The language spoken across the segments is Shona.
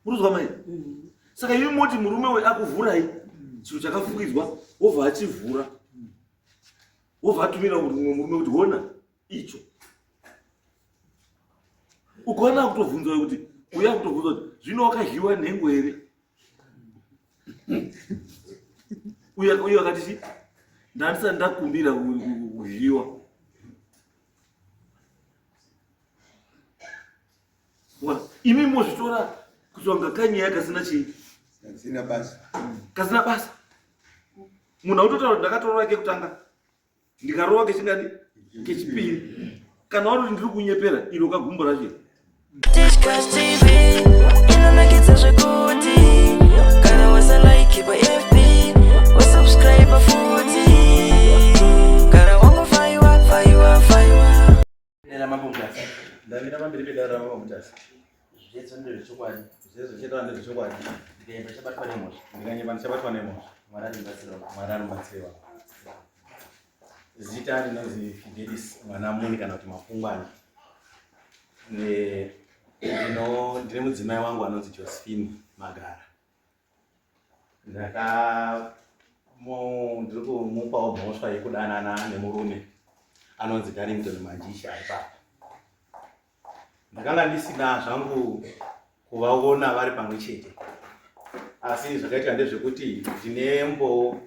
muruzwa mai mm. saka imi moti murume uyu akuvhurai mm. chinhu chakafukidzwa wobva achivhura mm. wobva atumira mumwe murume kuti hona icho ukaona akutobvunza kuti uya akutobvunza kuti zvino wakadyiwa nhengo here uyo akati chi ndandisa ndakumbira kudyiwa imi mozvitora kuti wanga kanyaya kasina chii kasina basa kasina basa munhu autotaura kuti ndakatorova kekutanga ndikarova kechingani kechipiri kana wari kuti ndiri kunyepera iro kagumbo racho inonakidza zvekuti kana wasalaiki pafb wasubscribe futi Dera mambo mutasa. Ndavira pamberi pedara mambo mutasa. Zviyedzo ndezvo chokwadi. Zviyedzo chete ndezvo chokwadi. Ndikanyeba chabatwa nemhosva. Ndikanyeba ndichabatwa nemhosva. Mwari anobatsira. Mwari anobatsira. Zita rinonzi Fidelis mwana muni kana kuti mafungwana. Ne ndino ndine mudzimai wangu anonzi Josephine Magara. ndaka ndiri kumupawo mhosva yekudanana nemurume anonzi darrington manjisha ipapa ndakanga ndisina zvangu kuvaona vari pamwe chete asi zvakaitika ndezvekuti ndine mbo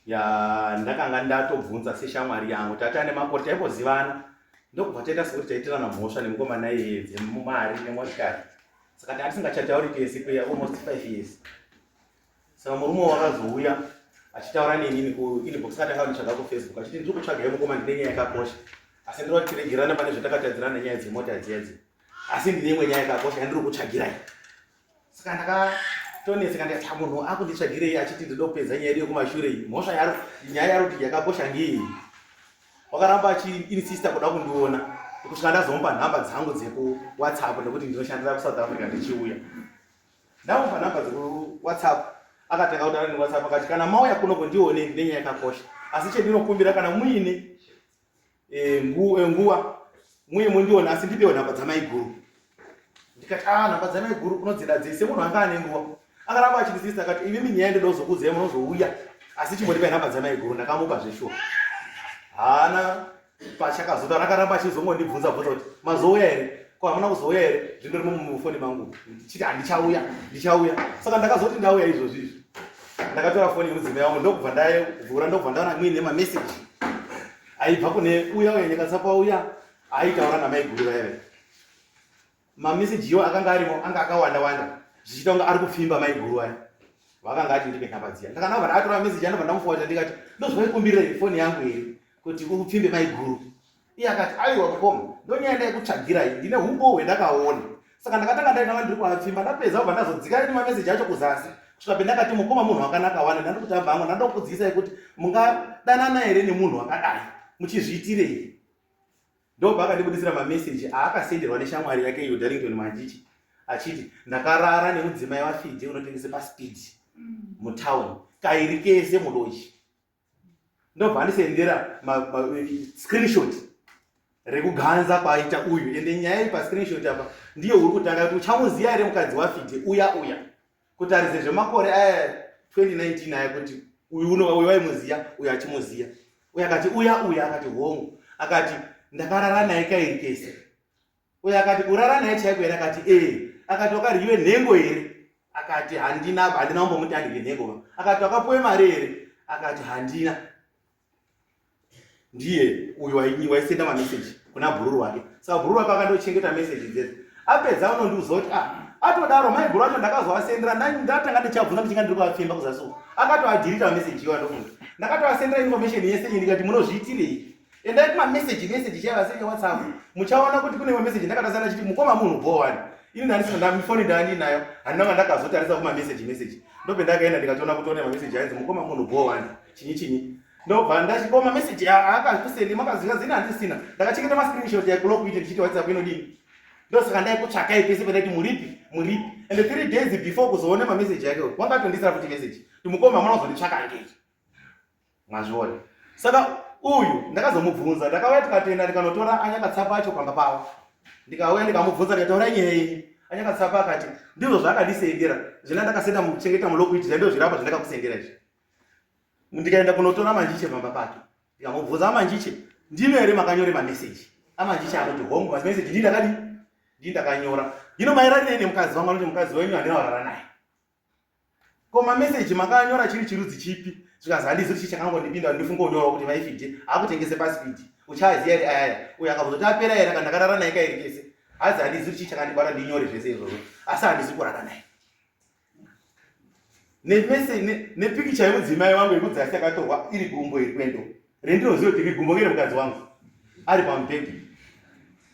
ya ndakanga ndatobvunza seshamwari yangu tati ane makore taingozivana ndokubva taita sekuti taitirana mhosva nemukomana iye dzemumari nemotikari saka tanga tisingachatauri kesi kwe almost five years saka murume wakazouya achitaura nenini kuinbox katanga nditsvaga kufacebook achiti ndiri kutsvaga yemukoma ndine nyaya yakakosha asi ndiri vatiregerana pane zvatakatadzirana nyaya dzemota dzedzi asi ndine imwe nyaya yakakosha yandiri kutsvagirai saka ndakatonetseka ndikati munhu akunditsvagirei achiti ndinoda kupedza nyaya yedu yekumashure iyi mhosva yaro nyaya yaro kuti yakakosha ngei wakaramba achiinsista kuda kundiona kusvika ndazomupa nhamba dzangu dzekuwhatsapp nekuti ndinoshandira kusouth africa ndichiuya ndamupa nhamba dzekuwhatsapp akatanga kutaura newhatsapp akati kana mauya kuno kundione ndine nyaya yakakosha asi chendinokumbira kana muine Eh, nguva eh, nguva muye mundiona asi ndipewo nhamba dzamaiguru ndikati a ah, nhamba dzamaiguru unodzida dzese munhu anga ane nguva akaramba achindisisa akati imi minyaya ndoda kuzokuudzai munozouya asi chimondipa nhamba dzamaiguru ndakamupa zveshuwa haana pachakazoda rakaramba achizongondibvunza bvunza kuti mazouya here ko hamuna kuzouya here zvindo rimo mufoni mangu ndichiti handichauya ndichauya saka ndakazoti ndauya izvozvi izvi ndakatora foni yemudzimai wangu ndokubva ndavhura ndokubva ndaona muine mameseji aibva kune uya uya nyekatsa kwauya aitaura namaiguru vaive mamesejiwo akanga arimo anga akawanda wanda zvichiita kunge ari kupfimba maiguru vaya vakanga ati ndipe nhamba dziya ndakanava vana atora mameseji anobva ndamufowaja ndikati ndozvaikumbirei foni yangu here kuti upfimbe maiguru iye akati aiwa mukoma ndonyaya ndaikutsvagirai ndine humbohwe ndakaona saka ndakatanga ndainava ndiri kuapfimba ndapedza kubva ndazodzika riri mameseji acho kuzasi kusvika pendakati mukoma munhu wakanaka wani ndandi kuti hamba hangu ndanda kukudziisai kuti mungadanana here nemunhu wakadai muchizviitirei ndobva akandibudisira mameseji aakasenderwa neshamwari yake iyo darrington manjichi achiti ndakarara nemudzimai wafidhe unotengese paspeed mm. mutown kairi kese mudoji ndobva andisendera screenshot rekuganza kwaita uyu ende nyaya iri pascreenshot apa ndiyo uri kutanga kuti uchamuziva here mukadzi wafite uya uya kutaridze zvemakore aya 2019 aya kuti uyu uno uyu waimuziva uyu achimuziva uyu akati uya uya akati hongu akati ndakarara naye kairi kese uyo akati kurara naye chaiko here akati ee akati wakaryiwe nhengo here akati handina handina kumbomuti andirye nhengo va akati wakapuwe mari here akati handina ndiye uyo waisenda mameseji kuna bhururu wake saka bhururu wake akandochengeta meseji dzese apedza unondiuza kuti a ah, atodaro mai guru acho ndakazovasendera ndatanga ndichabvunza kuchinga ndiri kuvapfemba kuzasuwa akatoadhirita meseji iyoa ndofunga ndakatoasendera information yese iyi ndikati munozviitirei endai kuma message message chaiva asi ine whatsapp muchaona kuti kune message ndakatasa ndachiti mukoma munhu bho wani ini ndandisina ndami foni ndaandinayo handinanga ndakazotarisa kuma message message ndobe ndakaenda ndikatoona kuti one mamessage ainzi mukoma munhu bho wani chinyi chinyi ndobva ndachikoma message akakuseni makazinga zina handisina ndakachengeta mascreenshot yakulokuita ndichiti whatsapp inodini ndosaka ndaikutsvakai pese pendaiti muripi muripi and three days before kuzoona mamessage yake wakatondisira futi message timukoma mwana uzonditsvaka angechi Mazviona. Saka uyu ndakazomubvunza ndakauya tikatenda ndikanotora anyakatsapa acho pamba pavo. Ndikauya ndikamubvunza ndikataura nyaya iyi. Anyakatsapa akati ndizvo zvaakandisendera zvina ndakasenda muchengeta mulokuiti zvaindoo zvirapa zvandakakusendera izvi. Ndikaenda kunotora manjiche pamba pake. Ndikamubvunza amanjiche ndino here makanyore mameseji. Amanjiche anoti hongu mameseji ndii ndakadii ndakanyora hino maererei nemukadzi wangu anoti mukadzi wenyu handina kurara naye Koma message makanyora chiri chirudzi chipi zvikazi handizivi chii chakangondipinda ndifunga unyora kuti maifidi akutengese pasipidi uchaziya ri ayaya uyo akabvuzoti apera here kana ndakarara naye kairi kese hanzi handizivi chii chakandibata ndinyore zvese izvozvo asi handizivi kurara naye nepikicha yemudzimai wangu yekudzasi yakatorwa iri gumbo iri kwendo rendinoziva kuti iri gumbo ngere mukadzi wangu ari pamubhedhi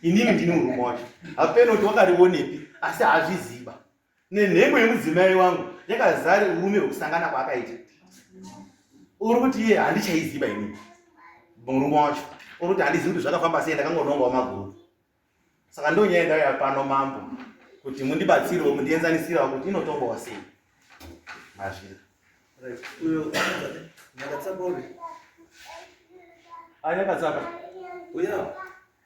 inini ndine urume wacho hapeno kuti wakarionepi asi hazviziva nenhengo yemudzimai wangu yakazare urume hwekusangana kwaakaita uri kuti iye handichaiziva ini murume wacho uri kuti handizivi kuti zvakafamba sei ndakangonongawo maguru saka ndo nyaya ndauya pano mambo kuti mundibatsirewo mundienzanisirawo kuti inotongawa sei mazvira anyakatsapa uya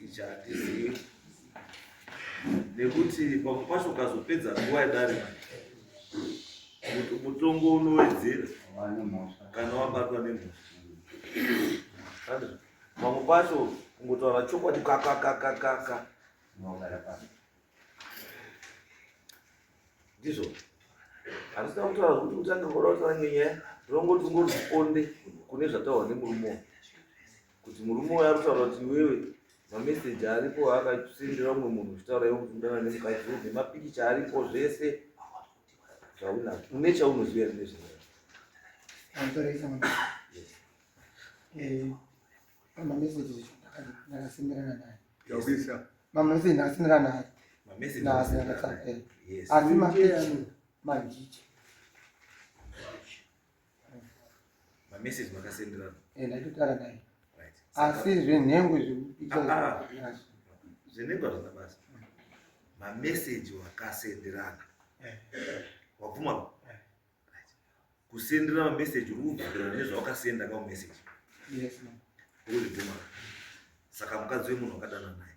ichi hatizivi nekuti pamwe pacho ukazopedza nguva yadarika mutongo unowedzera kana wabatwa nemhosva pamwe pacho kungotaura chokwadi kakakakakaka ndizvo handisina kutaura kuti utange ngora utaura ngenyaya ndinongoti ungori mukonde kune zvataurwa nemurume kuti murume uya ari kutaura kuti iwewe mameseji aripo akasendera umwe munhu uchitaura iwe kuti udana nemukadzi uyu nemapikicha aripo zvese zvaunazvo une chaunoziva ri nezvaa mameseji ndakasendera naye asi mapikicha manjicha Mamessage makasenderana. Eh, ndakutara dai. Right. Asi zvenhengo zvekupicha. Ah, ah. Zvenhengo hazvina basa. Mamessage wakasenderana. Eh. Wabvuma ba? Eh. Right. Kusendera mamessage uri kubvunzana nezvawakasenda ka message. Yes, ma'am. Uri kubvuma. Saka mukadzi wemunhu wakadana naye.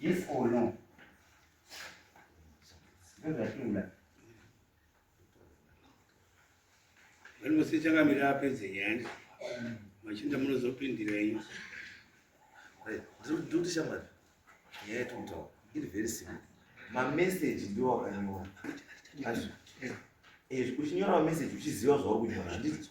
Yes or no? Ndozvatiula. Vanhu vose chakamira apedze nyaya machinda munozopindira iyo. Ndiri kuti shamwari nyaya yatomutaura iri very simple. Mameseji ndiwo akanyora. Ezvo uchinyora mameseji uchiziva zvauri kunyora handiti?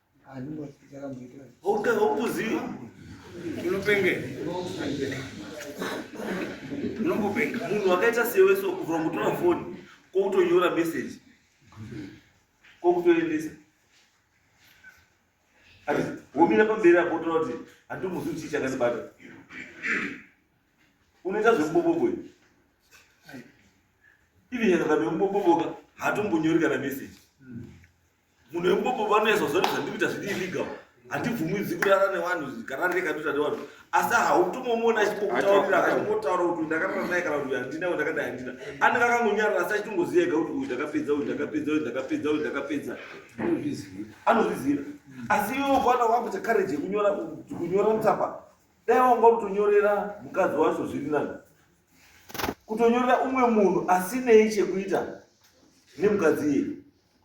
Okay, hopuzi unopenge unombopenga munhu wakaita sewe so kubvira kutora foni kwokutonyora message kwokutoendesa ati womira pamberi apo utora kuti handimuzivi chii chakandibata unoita zvekubobobo ivi nyakakabe kuboboboka hatombonyori kana message munhu wekubobo vanoyeza zvato zvandikuita zviri illegal handibvumidzi kurara nevanhu kararire katoita nevanhu asi hautomomona achipotaurira akachimbotaura kuti ndakarara naye kana kuti handina kuti ndakadai handina anenge akangonyarara asi achitongoziva ega kuti uyu ndakapedza uyu ndakapedza uyu ndakapedza uyu ndakapedza anozviziva asi iwe ukwana wakuita kareji yekunyora kunyora mutsapa dai wanga kutonyorera mukadzi wacho zviri nani kutonyorera umwe munhu asinei chekuita nemukadzi iyeye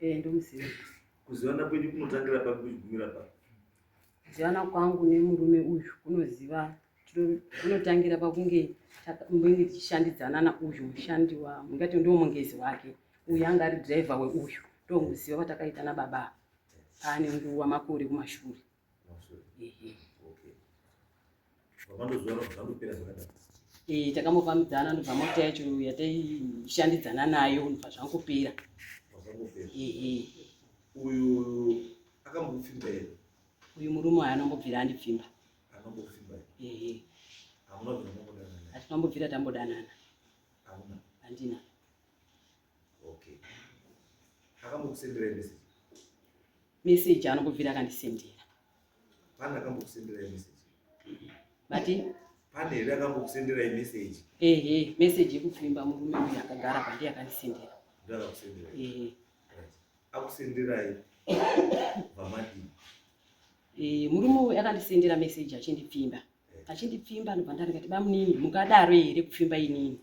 Eh, ndomuziva. Kuzivana kwenyu kunotangira papi kuchigumira papi? Kuzivana kwangu nemurume uyu kunoziva kunotangira pakunge munenge tichishandidzana nauyu mushandi wa mungati ndiwo mungezi wake uyu anga ari driver weuyu ndomuziva kwatakaita nababa paane nguva makore kumashure Eh, takambofambidzana ndobva mota yacho yataishandidzana nayo ndobva zvangopera uyu murume ayo anongobvira andipfimba hatinambobvira tambodanana handina message anongobvira akandisendera pane akambokusendera message vati pane here akambokusendera message ehe message yekupfimba murume uyu akagara pandi akandisendera ndakakusendera ehe akusenderai vamadii eh, murume uyu akandisendera message achindipfimba eh. achindipfimba ndobva ndati kati bamunini mukadaro here kupfimba inini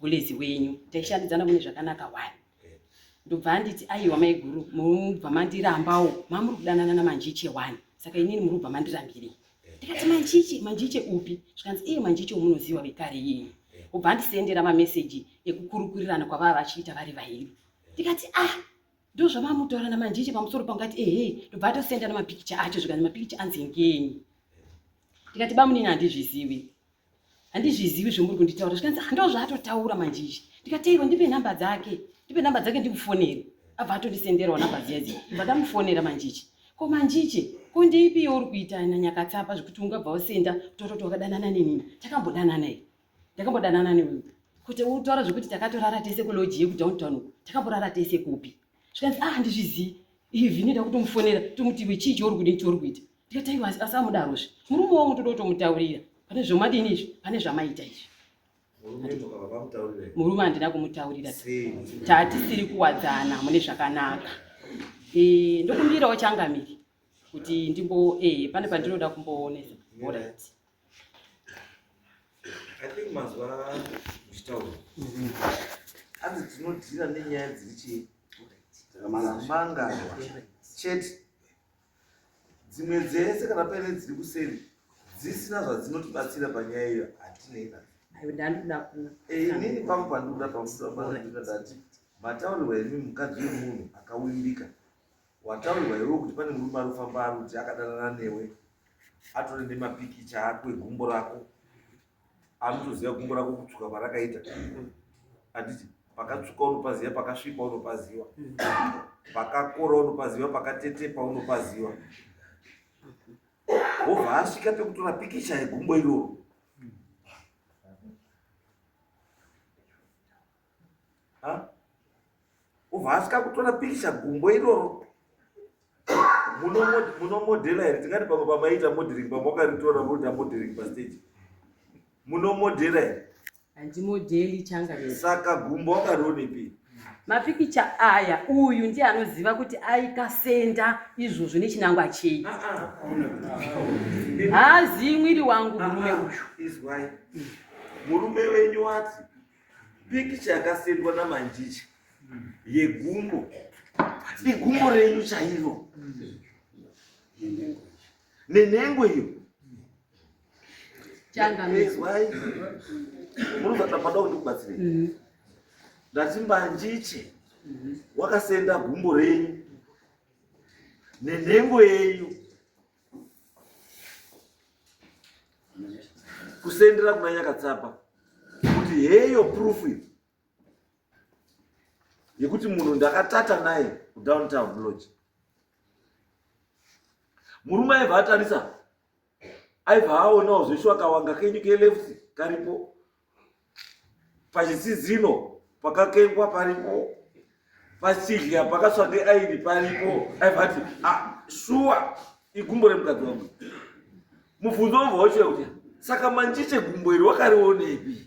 gulezi wenyu taishandidzana kune zvakanaka wani ndobva anditi aiwa maiguru murubva mandirambawo mamuri kudanana namanjiche wani saka inini murubva mandirambirei ndikati manjiche manjiche upi zvikanzi iye manjiche omunoziva vekare iyeye obva andisendera mameseji ekukurukurirana kwavava vachiita vari vairi ndikati ah ndozvamamutora namanjiche pamusoro pangati ehe ndobva atosenda namapikicha acho zvikanzi mapikicha anzi ngenyi ndikati bamunini handizvizivi handizvizivi zvomuri kunditaura zvikanzi handoo zvaatotaura manje izvi ndikateirwa ndipe nhamba dzake ndipe nhamba dzake ndimufonere abva atondisenderawo nhamba dziya dziya bva ndamufonera manje ichi ko manje ichi ko ndeipi youri kuita nanyakatsapa zvekuti ungabva wasenda kutototi wakadanana nenini takambodanana i ndakambodanana newewe kuti utaura zvekuti takatorara tese kuloji yekudowntown uku takamborara tese kupi zvikanzi ah handizvizivi even ida kutomufonera tomuti iwe chii chouri kudii chouri kuita ndikati aiwa asi amudarozve murume wangu toda kutomutaurira pane zvomadini izvi pane zvamaita izvi murume handina kumutaurira tatisiri kuwadzana mune zvakanaka eh, ndokumbirawo changamiri kuti ndimbo eh, pane pandinoda kumboonesa orit I think mazuva muchitaura mm-hmm. hanzi tinodhira nenyaya dziri chii dzakamangarwa chete dzimwe dzese kana paine dziri kuseri dzisina zvadzinotibatsira panyaya iyo hatinei nazo eh, inini pangu pandikuda pamuaa ndati mataurirwa imi mukadzi wemunhu akawimbika Wataurirwa iwewe kuti pane murume anofamba arudzi akadanana newe atore nemapikicha ako egumbo rako anotoziva gumbo rako kutsvuka kwarakaita handiti pakatsvuka unopaziva pakasvipa unopaziva pakakora unopaziva pakatetepa unopaziva wobva asvika pekutora pikicha yegumbo iroro obva asvika kutora pikicha gumbo iroro munomodhela here tingati pamwe pamaita modering pamwe wakaritora voita modering pastage munomodhela here handimodheli changa saka gumbo wakarionepi mapikicha aya uyu ndiye anoziva kuti aikasenda izvozvo nechinangwa chei ah, ah. haazivi mwiri wangu murume ah, uyu murume wenyu wati Pikicha yakasendwa namanjicha yegumbo igumbo renyu chairo nenhengo iyo changamizwai munozatamada kundikubatsirei mm-hmm. ndati manjiche wakasenda gumbo renyu nenhengo yenyu kusendera kuna nyakatsapa kuti heyo proof yekuti munhu ndakatata naye kudowntown lodge murume aibva atarisa aibva aonawo zveshuwa kawanga kenyu keleft karipo pachisizino pakakengwa paripo pachidya pakatswa neairi paripo aivati ah, shuwa igumbo remukadzi wangu mubvunzo wobva wochira kuti saka manjiche gumbo iri wakarionepi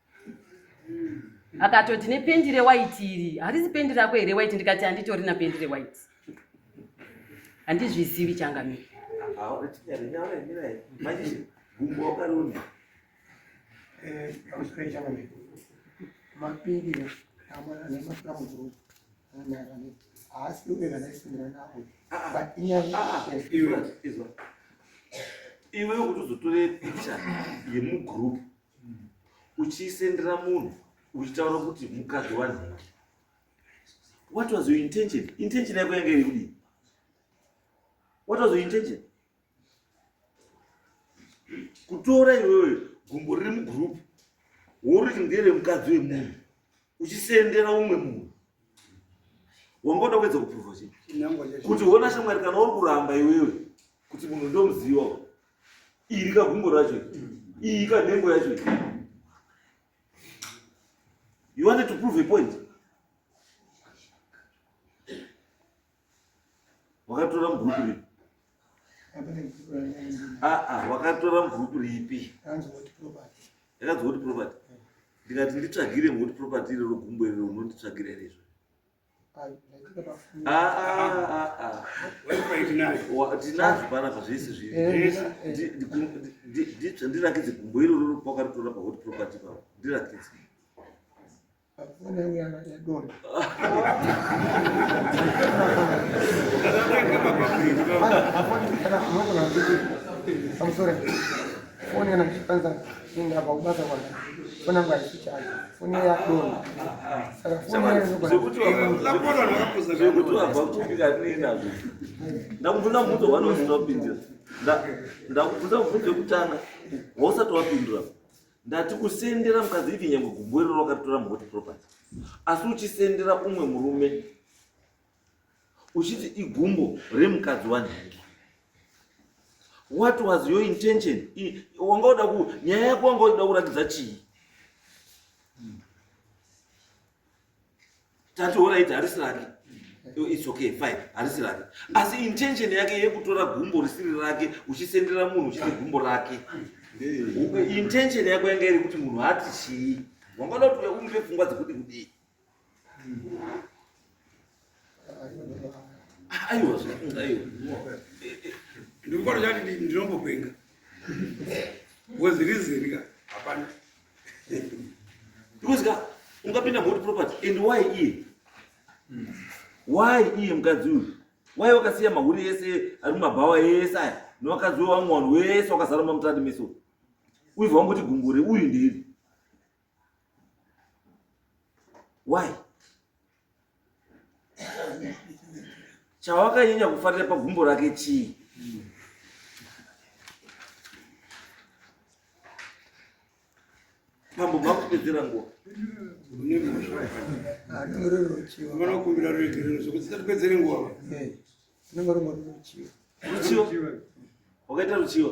akatoti nependi rewaiti iri harisi pendi rako here waiti ndikati handitori na pendi rewaiti handizvizivi changamiri mapindi amaaamuzuru haasi kuweka naisindira navo but inyaya iwe ukutozotore picha yemugroup uchiisendera munhu uchitaura kuti mukadzi wanhingi what was your intention intention yako yange iri kudii what was your intention kutora iwewe gumbo riri mugroup woriti ndere mukadzi wemunhu uchisendera umwe munhu wangoda kuedza kuprova chii kuti hona shamwari kana uri kuramba iwewe kuti munhu ndomuziva iri kagumbo racho iyi kanhengo yacho you wanted to prove a point wakatora mubhuruku ripi aa ah, ah, wakatora mubhuruku ripi yakanzi woti property ndikati nditsvagire ngoti property irero gumbo irero unonditsvagira irezvo tinazvo panapa zvese zvirindirakidze gumbo iroro kwakaritora pahot property pavo ndirakidze I'm sorry. foni kana ndichifanza kuenda pakubasa kwake foni yangu haisi chaji foni iyo yadona saka fonizvekuti wabva kupi katinei nazvo ndakubvunza mubvunzo hwani usati wapindira ndakubvunza mubvunzo wekutanga wausati wapindura ndati kusendera mukadzi ivi nyangwe gumbo iroro wakaritora muhoti property asi uchisendera umwe murume uchiti igumbo remukadzi wanhingi what was your intention wanga uda ku nyaya yako wanga uda kurakidza chii tati horaiti harisi rake its okay fine harisi rake asi intention yake yekutora gumbo risiri rake uchisendera munhu uchiti gumbo rake intention yako yanga iri kuti munhu ati chii wanga uda kuti uya umipe pfungwa dzekuti kudii aiwa zvakanga iwo ndikufana chati ndinombopenga was reason ka hapana because ka ungapinda moti property and why iye why iye mukadzi uyu why wakasiya mahuri ese ari mumabhawa ese aya newakadzi wewamwe wanhu wese wakazara mamutati meso uibva wangoti gumbure uyu ndiri why chawakanyanya kufarira pagumbo rake chii mambo makupedzera nguva vanokumbira ruregerero zvekuti tisatipedzere nguva tinenge rumwe ruchiva ruchiva wakaita ruchiva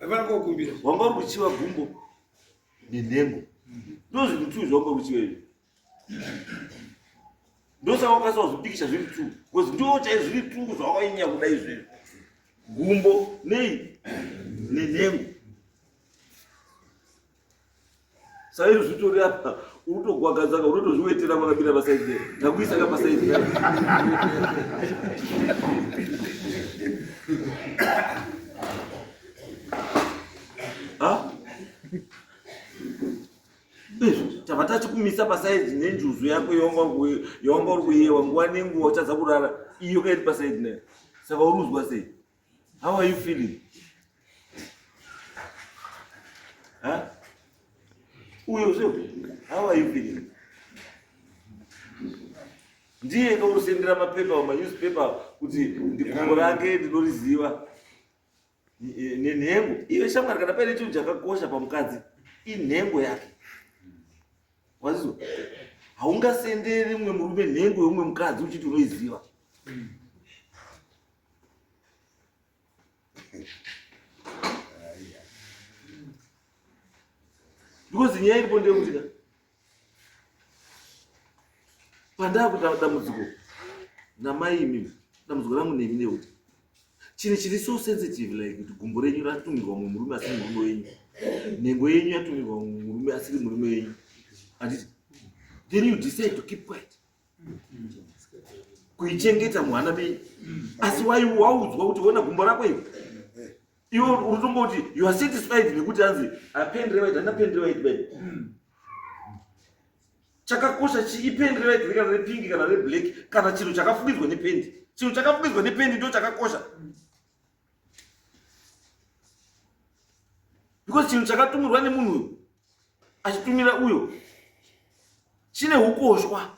Vana kwa kumbira. Wamba kuchiwa gumbo nenhengo. Ndozi kutu zvamba kuchiwa izvi. Ndosa wakasa wazvipikisha zviri tu. Kozi ndiwo chai zviri tu zvawainya kuda izvi. Gumbo nei nenhengo. saizvo zvitori apa unotogwagadzaka unotozviwetera kwakabira pasaidi takuisa ka pasaidi tava tachikumisa pasaidi nenjuzu yako yawanga uri kuyewa nguva nenguva uchadza kurara iyo kairi pasaidi nayo saka uruzwa sei How are you feeling? Huh? Uyo sio? How are you feeling? Ndiye ndokusendera mapepa or newspaper kuti ndikumbo rake ndinoriziva nenhengo iyo shamwari kana paine chinhu chakakosha pamukadzi inhengo yake wazizwa haungasenderi mumwe murume nhengo yomumwe mukadzi uchiti unoiziva because nyaya iripo ndeyekuti ka pandaakuta dambudziko namai imimi dambudziko rangu nemi ndeyekuti chinhu chiri so sensitive like kuti gumbo renyu ratumirwa mumwe murume asiri murume wenyu nhengo yenyu yatumirwa mumwe murume asiri murume wenyu handiti then you decide to keep quiet kuichengeta mwana menyu asi waiwaudzwa kuti ona gumbo rako iwe iwe unotongoti you are satisfied nekuti anzi apen rewit hana pen rewit be chakakosha chii pen rewit rekana repingi kana reblack kana chinhu chakafukidzwa nependi chinhu chakafukidzwa nependi ndo chakakosha because chinhu chakatumirwa nemunhu uyu achitumira uyo chine ukoshwa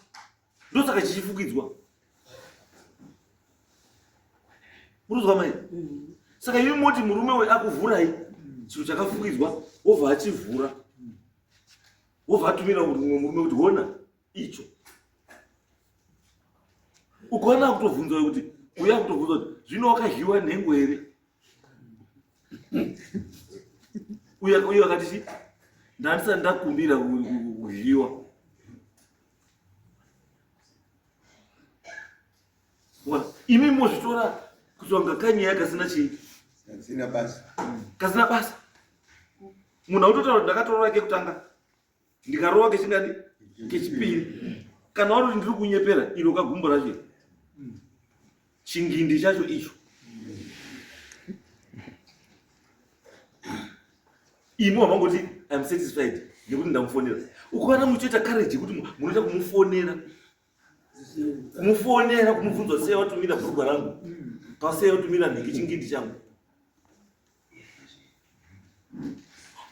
ndosaka chichifukidzwa muruzwa mai mm. saka imi moti murume we akuvhurai chinhu chakafukidzwa wobva achivhura wobva atumira mumwe murume kuti hona icho ukaona kutobvunza kuti uya kutobvunza kuti zvino wakadyiwa nhengo here uya uya wakati chi ndandisati ndakumbira kudyiwa imi mozvitora kutsonga kanyaya kasina chii kasina basa munhu autotaura ndakatorora kekutanga ndikarova kechingani kechipiri kana wari ndiri kunyepera iro kagumbo racho chingindi chacho icho imi wamangoti im satisfied nekuti ndamufonera ukawana muchoita courage yekuti munoita kumufonera kumufonera kumubvunza kuti sei watumira bhurugwa rangu pasei watumira nhiki chingindi changu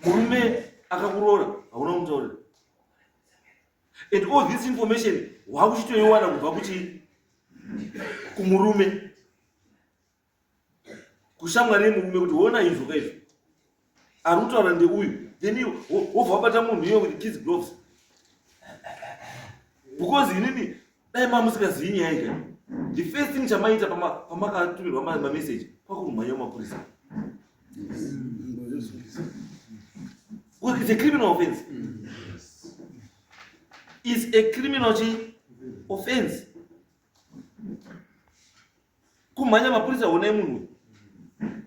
murume akakuroora hauna kumutaurira and all this information waakuchitoiwana kubva kuchii kumurume kushamwari yemurume kuti hona izvo ka izvo ari kutaura ndeuyu then wobva wabata munhu iye with kids gloves because inini dai ma musikazivi nyaya ika the first thing chamaita pamakatumirwa mameseji kwakurumhanya mapurisa it's a criminal offense is a criminal offense kumhanya mapurisa honai munhu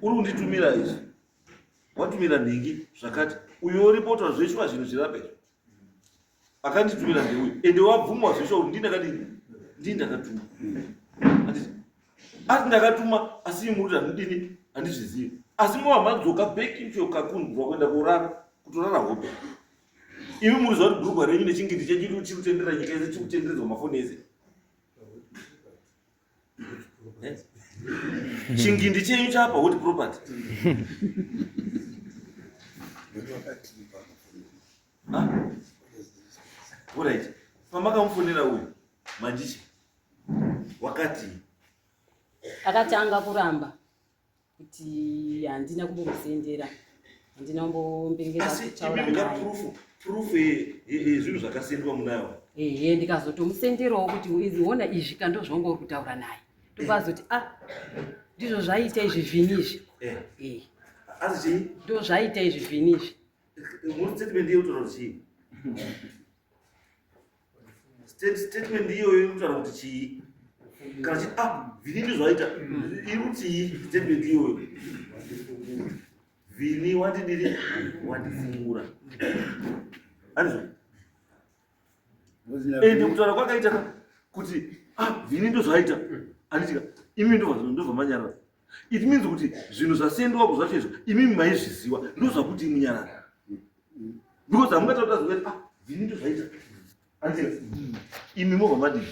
uri kunditumira izvi watumira nhingi zvakati uyo oripotwa zveshuwa zvinhu zvirapa izvo akanditumira ndeuyu ende wabvumwa zveshuwa kuti ndindakadini ndii ndakatuma asi ndakatuma asi imuri handidini handizvizivi asi mova madzoka back into your kakun bva kuenda kurara kutorara hope Imi muri zvauri bhurugwa renyu nechingindi chedu chiri kutendera nyika yese chiri kutenderedzwa mafoni ese. Eh? Chingindi chenyu chapa what property? Ah. Alright. Pamakamufonera uyu manjichi wakati akatanga kuramba kuti handina kumbomuzendera handina kumbombengezvinhu zvakasendwa munayo ehe ndikazotomusenderawo kuti ona izvi ka ndozvanga uri kutaura naye ndokazoti a ah, ndizvo zvaita izvi vhini izvi eh. eh. ndo zvaita izvi vhini izvi statement iyoyo inotaura kuti chii kana chiti ah vini ndizvaita iri kutii statement iyoyo vini wandidiri wandifungura anizvo ende kutaura kwakaita kuti ah vini ndozvaita anditika imi ndovamanyarara it means kuti zvinhu zvasendwa ku zvacho izvo imimi maizviziva ndozvakuti imunyarara because hamungataura zvinhu kuti ah vini ndozvaita hanzi imi mova madii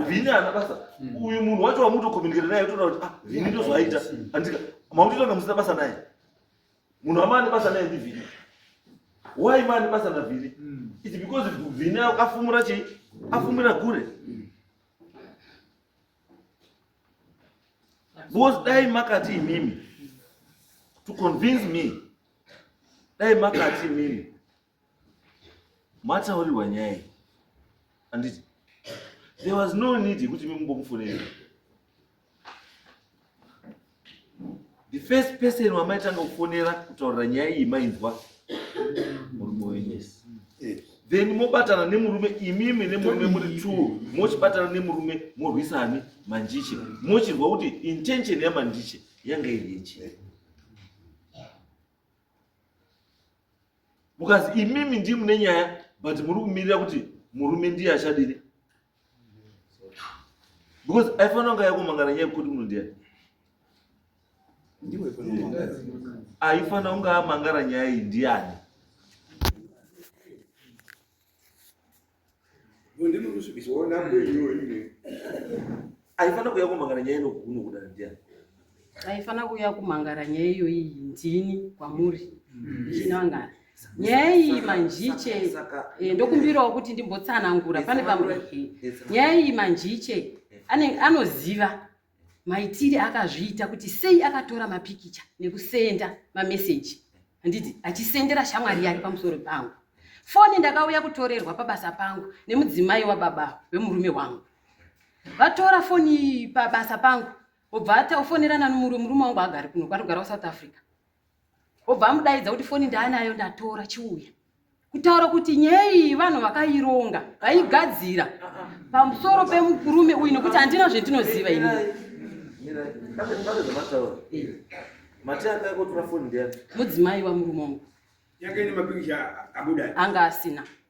vini ana basa uyu munhu wacho wamutokomunikira naye toda kuti ah vini ndozvaita handika makutoita kunge musina basa naye Munhu amane basa naye ndivhini. Why mane basa na vhini? Mm. It's because vhini afumura chi afumura gure. Mm. Because dai makati imimi to convince me dai makati imimi mataurirwa nyaya iyi anditi there was no need yekuti mimumbomufonera the first person wamaitanga kufonera kutaurira nyaya iyi mainzwa murume wenyu then mobatana nemurume imimi nemurume muri t mochibatana nemurume morwisani manjiche mochirwa kuti intention yamanjiche yanga iri yechii mukazi imimi ndii mune nyaya but muri kumirira kuti murume ndiye achadini because aifanira kunge yakumangana nyaya yekuti munhu ndiani aifanira kunge amangara nyaya iyi ndiani Ndimi kusvibisa. Ona kwenyu ine. Aifana kuya kumangara nyaya ino kuno kuda ndiani? Aifana kuya kumangara nyaya iyo iyi ndini kwamuri. Ndinangana. Nyaya iyi manjiche Saka eh, ndokumbirawo kuti ndimbotsanangura pane pamwe. Nyaya iyi manjiche ane anoziva maitire akazviita kuti sei akatora mapikicha nekusenda mameseji handiti achisendera shamwari yake pamusoro pangu foni ndakauya kutorerwa pabasa pangu nemudzimai wababa wemurume wangu vatora foni pabasa pangu obva ataofonerana nomurume wangu agari kuno kwarikugara kusouth africa obva amudaidza kuti foni ndaanayo ndatora chiuya kutaura kuti nyaya iyi vanhu vakaironga vaigadzira pamusoro pemukurume uyu nekuti handina zvendinoziva ini mudzimai wamurume wangu anga asina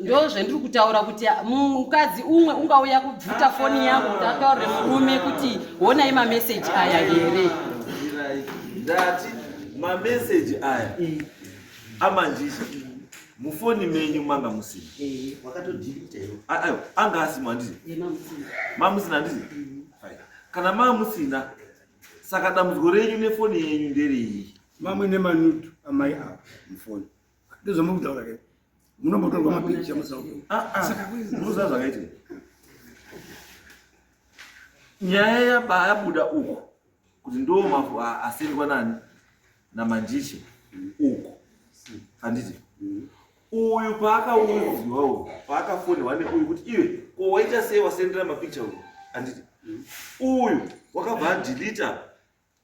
ndo zvendiri kutaura kuti mukadzi umwe ungauya kubvuta foni yako kuti ataurire murume kuti honai mameseji aya here ndati mameseji aya amanjisha mufoni menyu manga musina eh, ah, ah, anga asimo andii eh, mamusina andii mm. kana mamusina saka dambudziko renyu nefoni yenyu ndereyi mamwe nemanutu amai avo mufoni ndozvamuri kutaura ke munombotorwa mapikicha musauzaa zvakaiti nyaya yabayabuda uku kuti ndo mafu asengwa nani namanjishe uku handiti uyu paakauziwa uyu paakafonirwa neuyu kuti iwe ko waita sei wasendera mapikicha uyu handiti uyu wakabva adilita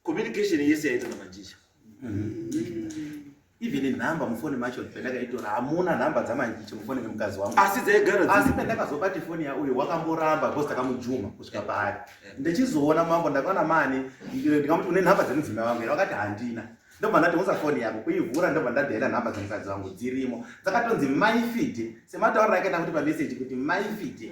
communication yese yaita na manjisha even number mufoni macho pandakaitora hamuna number dzamanjicha mufoni memukazi wangu asi dzaigara asi pandakazobati foni yauyo wakamboramba because takamujuma kusvika paari ndichizoona mambo ndakaona mani ndikamuti une number dzemudzimai wangu here vakati handina ndobva ndati usa foni yako kuivhura ndobva ndadhaira nhamba dzemukadzi wangu dzirimo dzakatonzi maifide sematauriro akaita kuti pamessage kuti maifide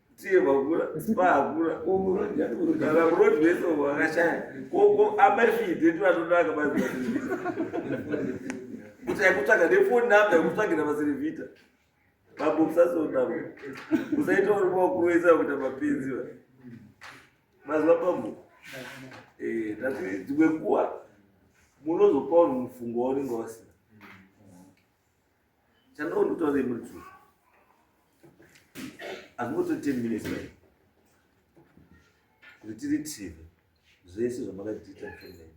tievakura vahakura kana murodi vese vakashaya koko amafide tivatonaka mazi kuti yakutsvaga nefoni namba yakutsvagira maserevhita bambo musasonama musaita uri makuroisa kuita mapenzi va maziva bambo eh, tati dzimwe kuwa munozopa uri mufungo waunenge wasina Chandoo ndikutaurei muri true. Hazvingoto 10 minutes mai. Kuti tiri TV zvese zvamakatiita mfendeni.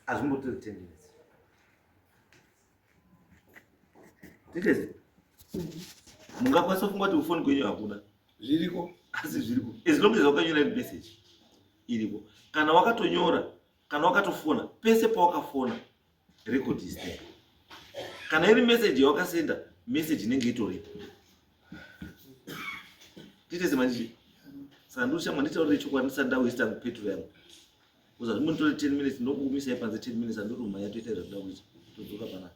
Hazvingoto 10 minutes. Tikezi. Mungakwanisa kungoti ufoni kwenyu hakuna. Zviriko. Asi zviriko. As long as wakanyora message iriko. Kana wakatonyora kana wakatofona pese pawakafona record is there kana iri message yawakasenda message inenge itoripo titese manjii saka ndosha manditaurire chokwadi ndisati ndawesta petro yangu kuzati munditore ten minutes ndokukumisai panze ten minutes andiri umhanya toita zvakuda kuita todzoka panapa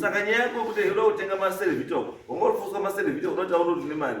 saka nyaya yako kuti unoda kutenga maserevita uko wanga uri fuswa maserevita unotaura kuti une mari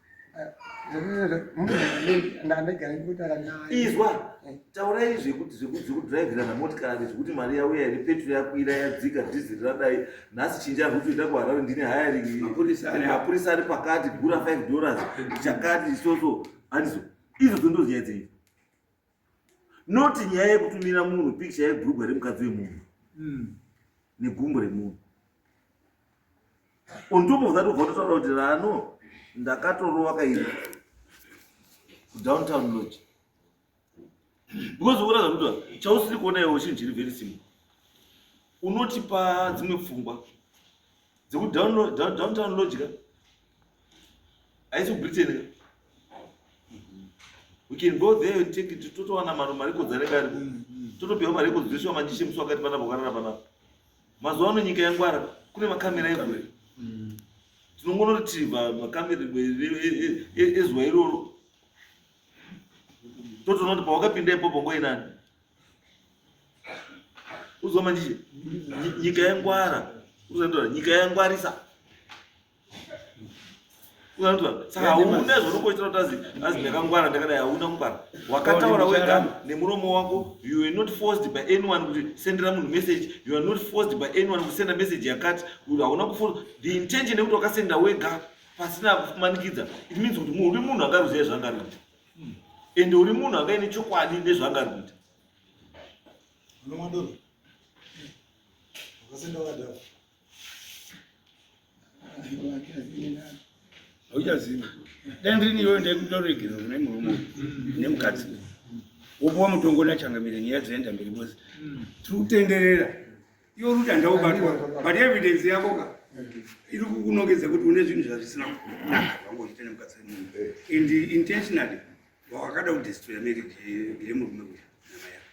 izwa eh. taurai zvekuti zvekudhiraivhirana motikari zvekuti mari yauya here petro yakwira yadzika dhiziri radai nhasi chinja rikutoita kuharare ndine hayaringmapurisa ari pakati gura 5 dollars chakati isoso handizo izvo dzondoziyadzei not nyaya yekutumira munhu pikicha yebrugwa remukadzi wemunhu hmm. negumbo remunhu on top of that ubva totaura kuti rano ndakatorova kairi kudowntown lodge because uona zvakuta chausiri kuona iwo chinhu chiri very simple unotipa dzimwe pfungwa dzekudowntown lodge ka haisi kubritain ka we can go there and take it totowana maro mari kodzare kari totopiwa mari yekudziriswa manjishe musi wakati panapa ukarara panapa mazuva ano nyika yangwara kune makamera egore tinongonoretriva makamera ezuva iroro totoona kuti pawakapinda ipopo ngoinani uzomanjishe nyika yangwara uzotora nyika yangwarisa saka hauna zvaunongoitira kuti azi azi ndakangwara ndakadai hauna kungwara wakataura wega nemuromo wako you are not forced by anyone kuti sendera munhu message you are not forced by anyone kusenda message yakati hauna kufosa the intention yekuti wakasenda wega pasina kumanikidza it means kuti uri munhu angaruziva zvaangaruita and uri munhu angaine chokwadi nezvaangaruita unomwa doro wakasenda wadaro hauchazivi dai ndirini iyoyo ndaikutoregera kune murume nemukadzi wopuwa mutongo nachangamire nyaya dzoenda mberi bose tiri kutenderera iyo ruta ndaubatwa but evidence yako ka iri kukunongedza kuti une zvinhu zvazvisina kunaka zvangoita nemukadzi and intentionally wakada kudestroya marriage yemurume uya namai yako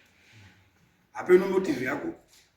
hapeno motive yako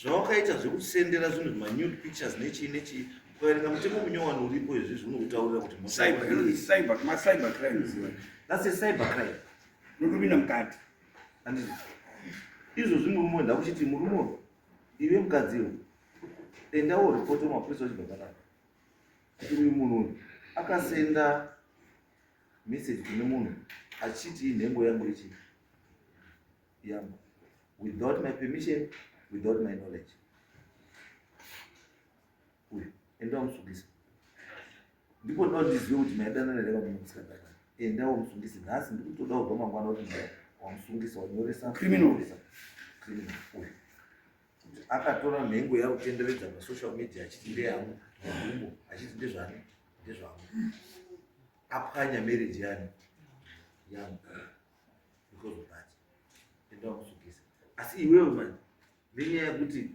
zvawakaita zvekusendera zvinhu manude pictures nechii nechii ukaverenga mutemo munyowani uripo izvi zvinoutaurira kuti macyber crimes that's a cyber crime notopinda mukati andizvo izvo zvimurume wenda kuchiti murume uyu ive mukadzi uyu endawo ripoti wemapurisa uchibva panapa kuti uyu munhu uyu akasenda message kune munhu achiti inhengo yangu ichii yangu without my permission without my knowledge uyu enda wamusungisa ndipo ndinoda ndizive kuti maidanana here vamwe musikadana enda wamusungisa nhasi ndiri kutoda kubva mangwana kuti wamusungisa wanyoresa criminal criminal uyu akatora nhengo yakutenderedza masocial media achiti ndeyangu magumo achiti ndezvani ndezvangu apwanya marriage yani yangu ndikuzobata enda wakusukisa asi iwewe manje nenyaya yekuti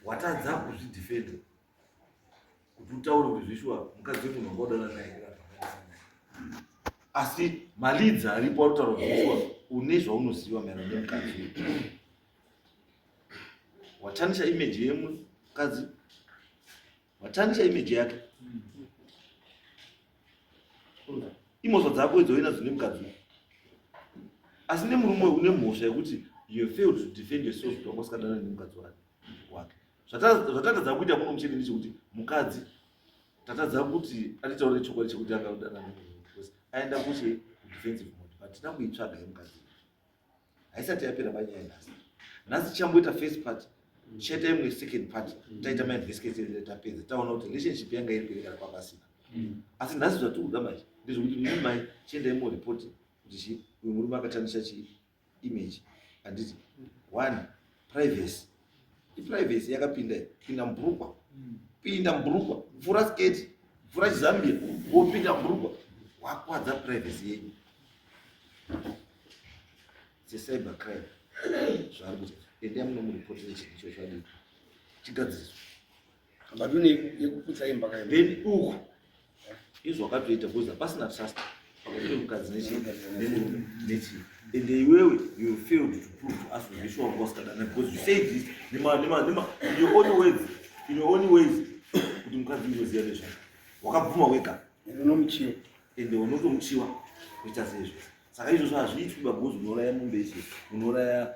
watadza kuzvidefenda kuti utaure kuti zvishuwa mukadzi wemunhu wanga udaura naye asi malidzi aripo anotaura kuti zvishuwa une zvaunoziva maerano nemukadzi uyu watanisha imeji yemukadzi Watarisa image yake. Imhosva dzako idzo wena dzine mukadzi. Asi nemurume une mhosva yekuti you failed to defend yourself kuti wanga usikadana nemukadzi wake. Zvatatadza kuita kuno muchete ndechekuti mukadzi tatadza kuti atitaure chokwadi chekuti akadana nemurume because aenda kuche defensive mode but tinakuitsvaga yemukadzi. haisati yapera panyaya nhasi nhasi tichamboita first part chete imwe second part taita mainvestigation tapedza taona kuti relationship yanga iri kuirekana kwapasina asi nhasi zvatiri kuda manje ndezvekuti mimi mai chiendai moripoti kuti chi uyu murume akatamisa chi image handiti one privacy iprivacy yakapinda pinda mbrukwa pinda mbrukwa vhura sketi vhura chizambia wopinda mbrukwa wakwadza privacy yenyu secyber crime zvaari kuti endai munomuripotera chinhu ichocho adii chigadziriswa Madhuna yekuputsa imba kayo. Then uku izvo wakatoita kuza pasina trust pakati pemukadzi nechimurume nechi and iwewe you failed to prove to us kuti sure wanga usikadana because you said this nema nema nema in your own words in your own ways kuti mukadzi unoziva nezva wakabvuma wega unomuchiwa and unotomuchiwa kuita sezvo saka izvozvo hazviitwi bagozi unouraya mombe ichi unouraya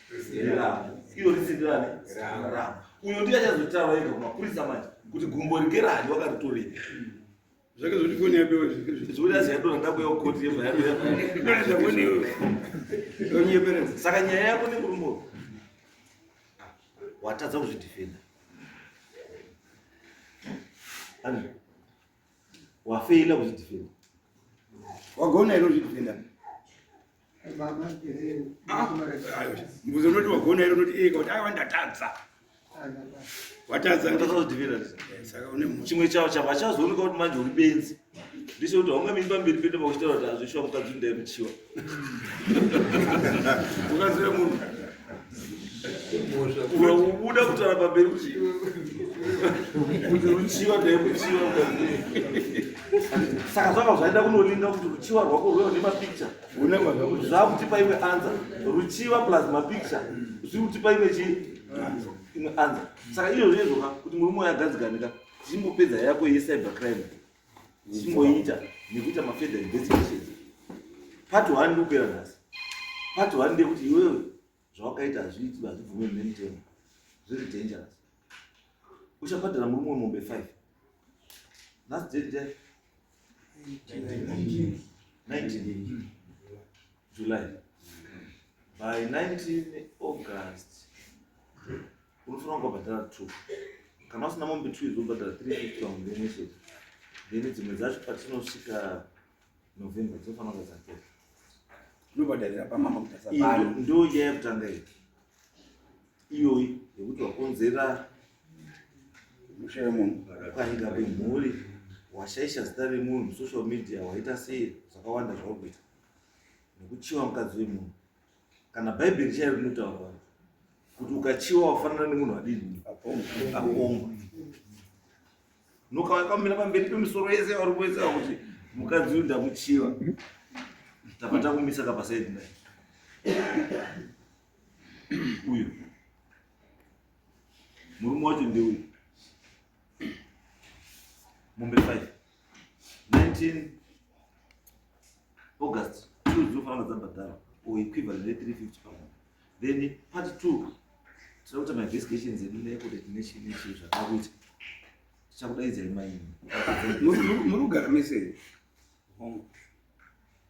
iro risindirane ra uyo ndiye achazotaura ega kumapurisa manje kuti gumbo rike rani wakaritorei zvake zvoti foni yapewa zvoti aziyadona ndakuyawo koti yebhayaonyeperera saka nyaya yako nekurumbo watadza kuzvidefenda ani wafeila kuzvidefenda wagona iro zvidefenda mbuzo unoti wagona iro unoti eka kuti aiwa ndatadza watadzachimwe chavo chavo achazooneka kuti manje uri benzi ndicho kuti haunga miri pamberi pete pakuchitaura kuti azvishuwa mukadzi undaemuchiwa ukazive munhu unobuda kutara pamberi kuti ruchiva dai ruchiva saka zvaka zvaida kunolinga kuti ruchiva rwako rweva nemapikicha zvakutipa imwe anza ruchiva plus mapikicha zviri kutipa imwe chii imwe anza saka iyo zvezvoka kuti muri moyo agadziganika tichimbopedza yako yecyber crime ndichimboita nekuita mafurther investigations part one ndikupera nhasi part one ndekuti iwewe zvawakaita hazviiti hazvibvumirwi nemutemo zviri dangerous uchabhadhara murume wemombe five last date 19 July by 19 August unofanira kubhadhara two kana usina mombe two izobhadhara three fifty pamwedzi imwe chete then dzimwe dzacho patinosvika November dzinofanira kuva dzapera unobhadharira pamama kutasa pano ndo nyaya yekutanga iyi iyoyi yekuti wakonzera musha wemunhu kwainga kwemhuri washaisha zita remunhu social media waita sei zvakawanda zvauri kuita nekuchiva mukadzi wemunhu kana bhaibheri chairo rinotaura kuti ukachiva wafanana nemunhu adini akomba nokauya kwamira pamberi pemisoro yese vari kuesa kuti mukadzi uyu ndamuchiva tava takumisa kapasaidi naye uyu murume wacho ndeuyu mombe five 19 August two dzinofanira dzabhadhara or equivalent ne 350 pamunhu then part two tinoda kuita mainvestigations edu neecodet nechii nechii zvakada kuita tichakudaidzai maini muri kugara mesei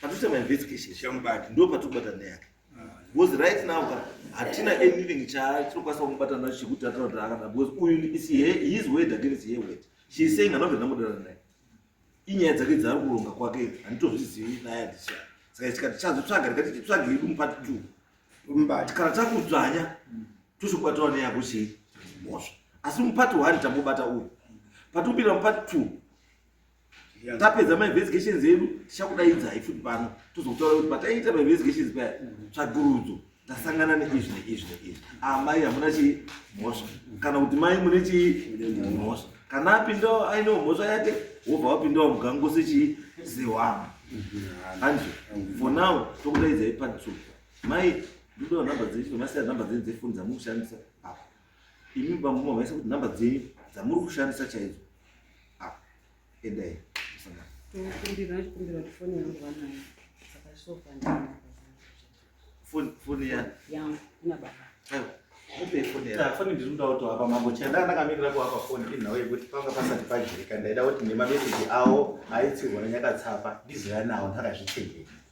Patita ma investigation shamubati ndo patobata neyake. Because right now ka hatina anything cha tinokwanisa kumubata nacho chekuti atana kuti akada because uyu is his word against her word. She is saying anobva ndamudana naye. Inyaya dzake dzaari kuronga kwake handitozvizivi naye handisha. Saka tikati chazotsvaga tikati titsvage yedu mupati two. Mbati kana takudzvanya tochikubatawo neyako chii mhosva. Asi mupati one tambobata uyu. Patopinda mupati two tapedza mainvestigations edu tichakudaidzai futi pano tozokutaura kuti pataiita mainvestigations paya tsvagurudzo tasangana neizvi neizvi neizvi amai ah, hamuna chii mhosva kana kuti mai mune chii mhosva kana apindawo ainewo mhosva yake wobva wapindawo mugango sechii sewama hanzi for now tokudaidzai pantsu mai ndodo nhamba dzechi nomasiya nhamba dzenyu dzefoni dzamukushandisa apa imi bambo mavaisa kuti nhamba dzenyu dzamuri kushandisa chaidzo ah, endai foni yafoni ndiri kuda kuti apa mambo chanda ndakamirira kuapa foni inhau yekuti panga pasati pajirika ndaida kuti nemameseji awo aitsirwa nanyakatsapa ndizoya nawo ndakazvitengera